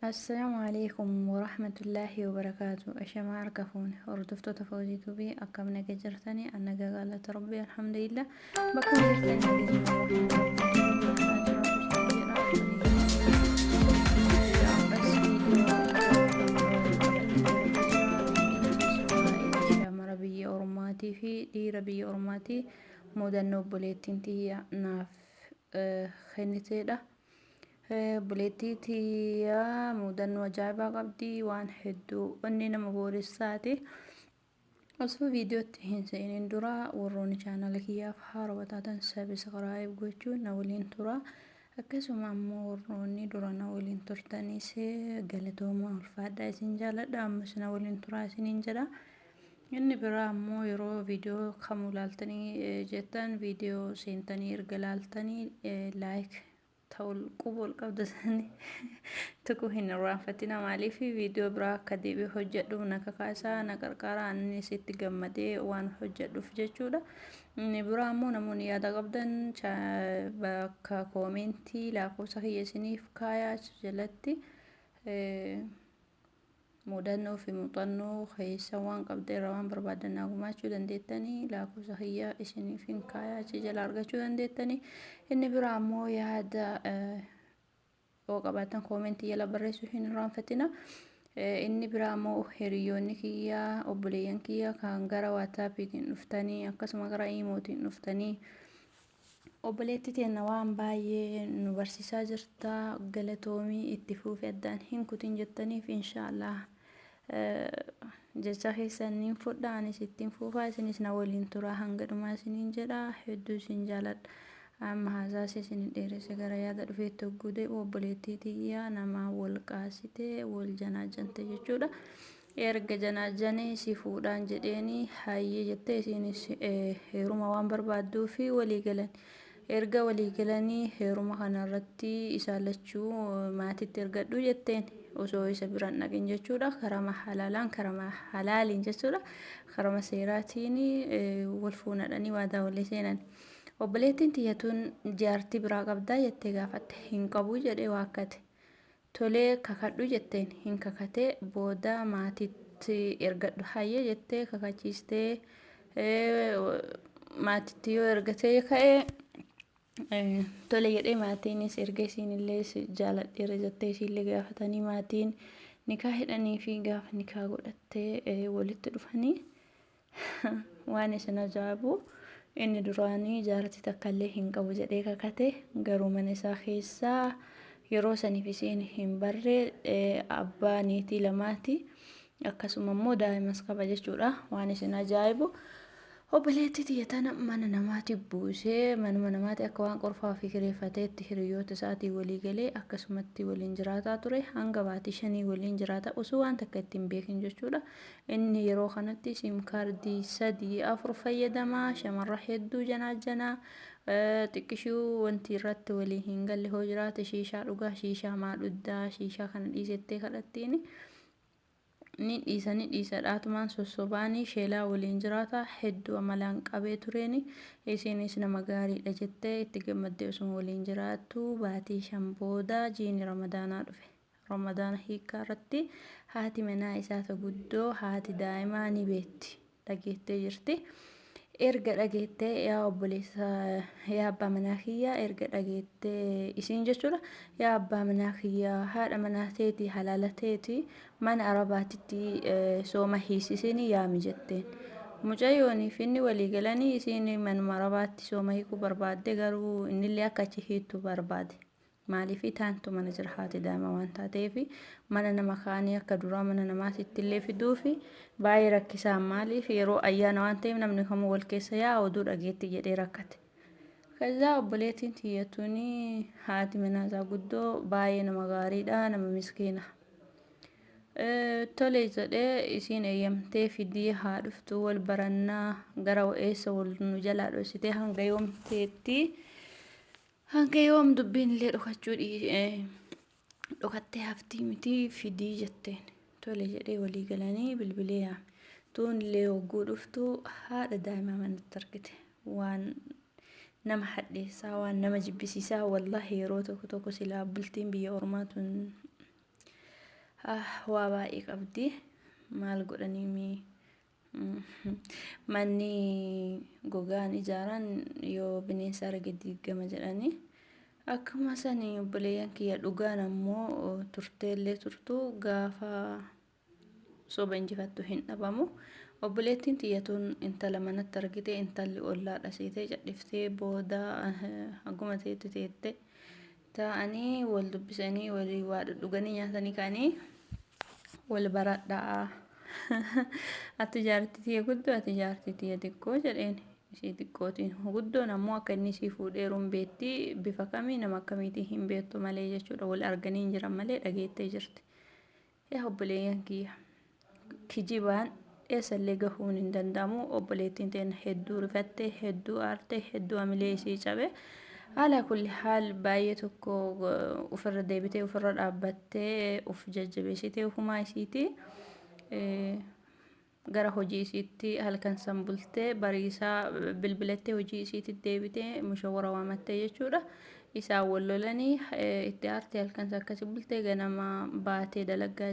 Assalaamu alaikum warahmatullaahi wabarakaatu. Ashamaa harka fuune hordoftoota Fawzii Tuubii akkam naga jirtanii an naga gaalata rabbi alhamdulillah bakka jirtanii Shamara biyya ormaatii fi dhiira biyya ormaatii mudannoo obboleettiin tiyya naaf kenniteedha. Buleettii tiyyaa mudannoo ajaa'ibaa qabdi waan hedduu onnee nama booressaati. Osoo viidiyootti hin seenin dura warroonni chaanala kiyyaaf haaroo taatan sabiskiraayib gochuun na waliin tura. Akkasuma ammoo warroonni dura na waliin turtanis galatooma ulfaadhaa isin jaaladha ammas na waliin turaa isiniin jedha. Inni biraa ammoo yeroo viidiyoo kamuu ilaaltanii jettan viidiyoo seentanii erga ilaaltanii laayik ta'u quba ol qabda sanii tuquu hin irraanfatina maaliif viidiyoo biraa akka deebi'ee hojjedhuuf na kakaasaa na qarqaaraa anis itti gammadee waan hojjedhuuf jechuudha. Inni biraa ammoo namoonni yaada qabdan bakka koomeentii lakkoofsa kiyya isiniif kaayaa jalatti. Mudannoo fi muuxannoo keeysan waan qabdan irraa waan barbaadan naa gumaachuu dandeettani. Laakofsa kiyya isiniifin kaayaa achi jala argachuu dandeettani. Inni biraa ammoo yaada yoo qabaatan koomentii jala barreessuu hin irraanfatina. Inni biraa ammoo hiriyoonni kiyya obboleeyyan kiyya kan gara waataapiitiin dhuftanii akkasuma gara iimootiin dhuftanii Obboleetti teenna waan baay'ee nu barsiisaa jirta galatoomii itti fuufi addaan hin kutin jettaniif inshaallah jecha keessan niin fudha anis ittiin fuufaa isinis na waliin turaa hanga dhumaa isiniin jedha hedduu isin jaaladha amma haasaas isin hin dheeresse gara yaada dhufeetti hogguu deebi'u obboleettii tiyya namaa wal qaasite wal janaajante jechuudha Erga janaajjanee si fuudhaan jedheeni hayyee jettee isiinis heeruma waan barbaadduufi walii galan. Erga walii galanii heeruma kanarratti isaan lachuu maatitti ergadhu jetteen osoo isa bira hin dhaqin jechuudha. Karama halaalaan karama halaaliin jechuudha. Karama seeraatiin wal fuunadhanii waadaa walii seenan. Obboleettiin tiyya tun jaartii biraa qabdaa jettee gaafatte. Hin qabu jedhee waakkate. Tole kakadhu jetteen hin kakate booda maatitti ergadhu hayyee jettee kakachiistee maatitti yoo ergatee ka'e tole jedhee maatiinis erga isiinillee jaaladheera jettee isiillee gaafatanii maatiin nikaa hidhanii fi gaafa nikaa godhattee walitti dhufanii Waan isin ajaa'ibu inni duraanii jaartii takkallee hin qabu jedhee kakate garuu mana isaa keessaa yeroo saniif isiin hin barre abbaa niitii lamaati akkasuma immoo daa'imas qaba jechuudha waan isin ajaa'ibu obboleettii tiyya tana mana namaati buusee manuma namaati akka waan qorfaa ofii kireeffateetti hiriyoota isaatii walii galee akkasumatti waliin jiraataa ture hanga baatii shanii waliin jiraata osoo waan takka ittiin beekin jechuudha Inni yeroo kanatti sim kaardii sadii afur fayyadama, shamarra hedduu janaajjana, xiqqishuu wanti irratti walii hin galle hoo jiraate shiishaa dhugaa, shiishaa maa dhuddaa, shiishaa kana dhiisettee kadhattiini. Ni dhiisa ni dhiisa dhaatumaan sossobaanii sheelaa waliin jiraata hedduu amalaan qabee tureeni isiinis nama gaariidha jettee itti gammaddee osuma waliin jiraattu baatii shan booda jiini ramadaanaa dhufe. Ramadaana hiikkaa irratti haati manaa isaa ta guddoo haati daa'imaa ni beetti, dhageettee jirti. Erga dhageettee yaa obboleessa yaa abbaa manaa kiyyaa erga dhageettee isiin jechuudha yaa abbaa manaa kiyyaa haadha manaa teetii halaala teetii mana arabaatitti eh, sooma hiisisiin yaami jetteen. Mucayyoonii fi inni walii galanii isiin manuma arabaatti sooma hiikuu barbaadde garuu innillee akka achi hiittu barbaade. Maaliif taantu mana jira haati daa'ima waan taateef mana nama kaanii akka duraa mana namaatiitti illee fiduuf baay'ee rakkisaan maaliif yeroo ayyaana waan ta'eef namni kamuu wal keessa yaa'a oduu dhageetti jedhee rakkate. Kazaa obboleettiin tiyyatuun haati manaasaa guddoo baay'ee nama gaariidha nama miskiina. Tole jedhee isiin eeyyamtee fidii haa dhuftu wal barannaa gara eessa wal nu jalaa dhoksitee hanga yoomteetti. Hanga yoom dubbiin illee dhokachuu dhokattee haftii mitii fidii jetteen. Tole jedhee walii galanii bilbilee yaame. Tuun illee hogguu dhuftu haadha daa'imaa manatti argite. Waan nama hadheessaa waan nama jibbisiisaa wallaahi yeroo tokko tokko silaa bultiin biyya ormaa tun waa baay'ee qabdi. Maal godhanii mii Manni gogaan ijaaran yoo bineensa arge diigama jedhanii akkuma sani obboleeyyan kiyya dhugaan ammoo turteellee turtu gaafa soba injifattu hin dhabamu. Obboleettiin tiyyatuun intala manatti argite intalli ollaa dhasiitee cadhiftee booda haguma teetti teette taa'anii wal dubbisanii walii waa dhuganii nyaatanii ka'anii wal baradhaa ati jaartii tiyya guddoo ati jaartii tiyya xiqqoo jedheen ishii xiqqootiin guddoon ammoo akka inni ishii fuudheeru hin beekti bifa kamii nama akkamiitii hin beektu malee jechuudha wal arganii hin jiran malee dhageettee jirti yaa obboleeyyan kiyya kijibaan Eessallee gahuun hin danda'amu. Obboleettiin teenna hedduu rifatte, hedduu aarte, hedduu hamilee isii cabe. Alaa kulli haal baay'ee tokko ofirra deebitee ofirra dhaabbattee of jajjabeessitee humaa isiiti. Gara hojii isiitti halkan san bultee bariisaa bilbilattee hojii isiitti deebitee mushawwara waamattee jechuudha. Isaan wal lolanii itti aartee halkan san akkasi bultee ganama baatee dalaggaa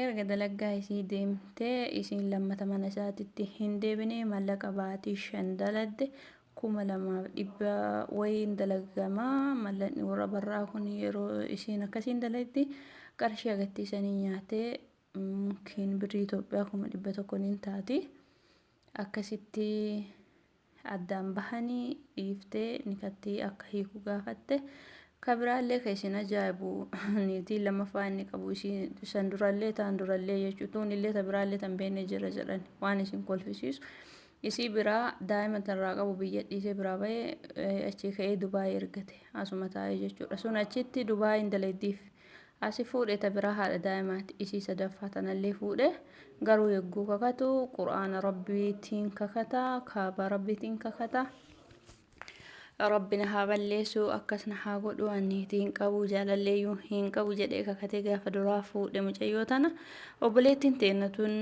Erga dalaggaa isii deemtee isiin lammata mana isaatitti hin deebinee mallaqa baatii shan daladde kuma lamaaf dhibba wayiin dalagama mallaqni warra barraa kun yeroo isiin akkasiin dalaytti qarshii agattii isanii nyaatee kiin birrii Itoophiyaa kuma dhibba tokko niin taati. Akkasitti addaan bahanii dhiiftee nikattii akka hiiku gaafatte. Ka biraallee ka isin ajaa'ibu niitiin lammaffaa inni qabu isii san durallee taan durallee jechuu tuunillee ta biraallee tan beenne jira jedhan waan isin kolfisiisu. Isii biraa daa'ima tanirraa qabu biyya dhiisee biraa bahee achii ka'ee Dubaayii ergate asuma taa'ee jechuudha. Sun achitti Dubaayiin dalaydiif. asi fuudhe ta biraa haadha daa'imaati isii sadaffaa tanallee fuudhe garuu yogguu kakatu qur'aana rabbiitiin kakata kaabaa rabbiitiin kakata rabbi na haa balleessu akkas na haa godhu anniitii hin qabu jaalalleeyyuu hin qabu jedhee kakatee gaafa duraa fuudhe mucayyoo tana obboleettiin teennatuun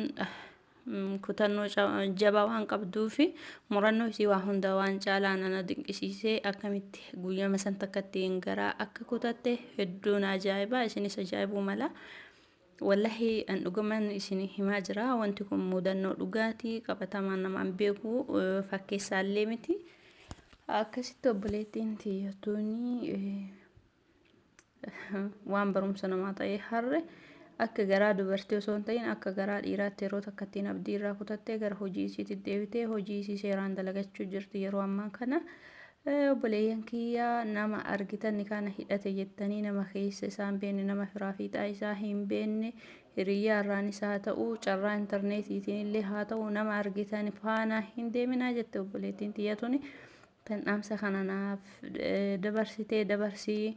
kutannoo jabaa waan qabduu fi murannoo isii waa hundaa waan caalaa nana dinqisiisee akkamitti guyyama san takkatti hin garaa akka kutatte hedduun ajaa'ibaa isinis ajaa'ibuu mala. Wallahi an dhuguman isin himaa jira wanti kun mudannoo dhugaatii qabatamaan namaan beeku fakkeessaallee miti. Akkasitti obboleettiin tiyyattuuni waan barumsa namaa ta'ee harre akka garaa dubartii osoo hin ta'in akka garaa dhiiraatti yeroo takka ittiin abdii irraa kutattee gara hojii isiitti deebitee hojii isii seeraan dalagachuu jirti yeroo ammaa kana obboleeyyan kiyyaa nama argitanni kana hidhate jettanii nama keessa isaan beenne nama firaa fiixaa isaa hin beenne hiriyyaa irraan isaa ta'u carraa intarneetiitiin illee haa ta'u nama argitan faana hin deeminaa jette obboleettiin xiyyatuni Kan dhaamsa kana naaf dabarsitee dabarsii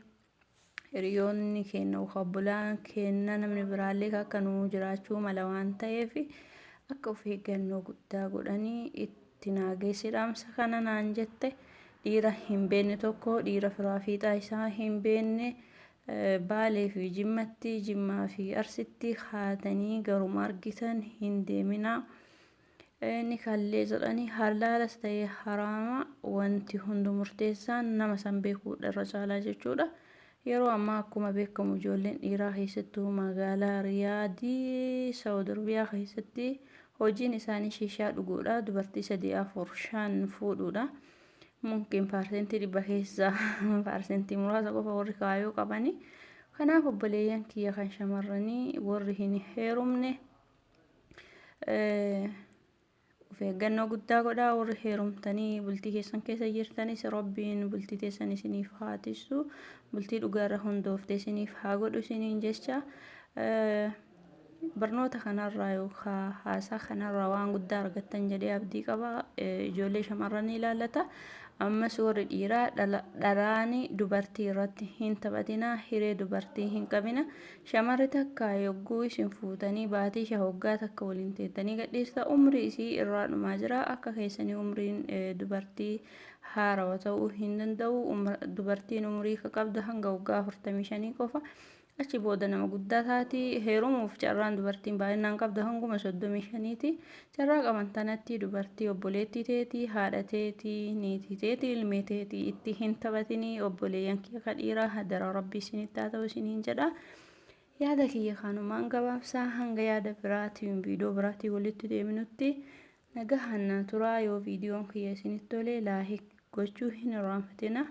hiriyoonni keenna yookaan obbolaan keenna namni biraallee akka nu jiraachuu mala waan ta'eef akka of eeggannoo guddaa godhanii itti naageessi dhaamsa kana naan jette dhiira hin beenne tokko dhiira firaa fiixaa isaa hin beenne baalee fi jimmatti jimmaa fi arsitti haatanii garuma argitan hin deeminaa. Inni kallee jedhanii halaalas ta'ee haraama wanti hundu murteessaan nama san beekuudha irra caalaa jechuudha. Yeroo ammaa akkuma beekamu ijoolleen dhiiraa keessattuu magaalaa Riyaadii Saawud Arabiyaa keessatti hojiin isaanii shiishaa dhuguudha. Dubartii sadii afur shan fuudhuudha. Mumkin paarsentii dhibba keessaa paarsentii muraasa qofa warri kaayoo qabanii. Kanaaf obboleeyyan kiyya kan shamarranii warri hin heerumne of eeggannoo guddaa godhaa warri heerumtanii bultii keessan keessa jirtanis rabbiin bultii teessan isiniif haa tissu bultii dhugaarra hundoofte isiniif haa godhu isiniin jecha barnoota kanarraa yookaan haasaa kanarraa waan guddaa argattan jedhee abdii qaba ijoollee shamarranii ilaallata ammas warri dhiiraa dharaani dubartii irratti hin taphatinaa hiree dubartii hin qabina Shamarri takka yogguu isin fuutanii baatii shan hoggaa takka waliin teettanii gadhiista umrii isii irraa dhumaa jira akka keessanii umriin dubartii haarawa ta'uu hin danda'u dubartiin umrii ka qabdu hanga hoggaa afurtamii shanii qofa achi booda nama guddaa taati heerumuuf carraan dubartiin baay'inaan qabdu hanguma soddomii shaniiti Carraa qaban tanatti dubartii obboleettii teetii, haadha teetii, niitii teetii, ilmee teetii itti hin taphatinii obboleeyyan kiyya ka dhiiraa hadara rabbii isinitti haa ta'u isiniin jedha. Yaada kiyya kanumaan gabaabsaa hanga yaada biraatiin viidiyoo biraatiin walitti deebinutti nagahaan naa turaa yoo viidiyoon kiyya isinitti tole laahik gochuu hin irraanfatina.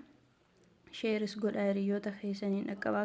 Sheeris godhaa hiriyoota keessaniin dhaqqabaa.